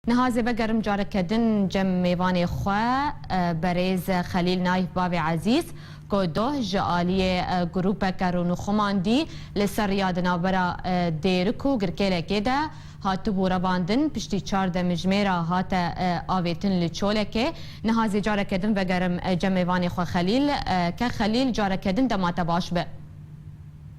Niha zêbe gerim careke din cem mêvanê xwe berêz Xelîl Nayf Bavê Ezîz ku doh ji aliyê grûpeke rûnûxuman dî li ser riya di navbera Dêrik û Girkêlekê de hatibû revandin piştî çar demijmêra hate avêtin li Çolekê. Niha zê careke din vegerim cem mêvanê xwe Xelîl. Ke Xelîl careke din dema te baş be.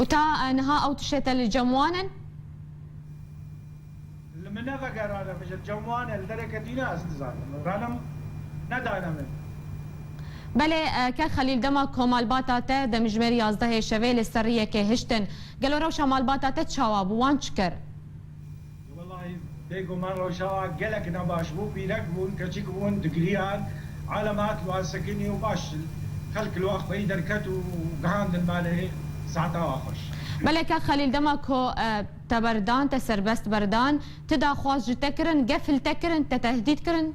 Û ta niha ew tiştê te li cem wan in? Belê, ke Xelîl dema ku malbata te demjimêr yazdehê şevê li ser riyekê hiştin, gelo rewşa malbata te çawa bû, wan çi kir? Wellahî bêguman rojawa gelek ne baş bû, pîrek bûn, keçik bûn, digiriyan, alem hat li wan sekinî û baş xelk li wan xweyî derket û gihandin malê saeta wa xweş. Meleke Xelîl dema ku te berdan, te serbest berdan, ti daxwaz ji te kirin, gefil te kirin, te tehdît kirin?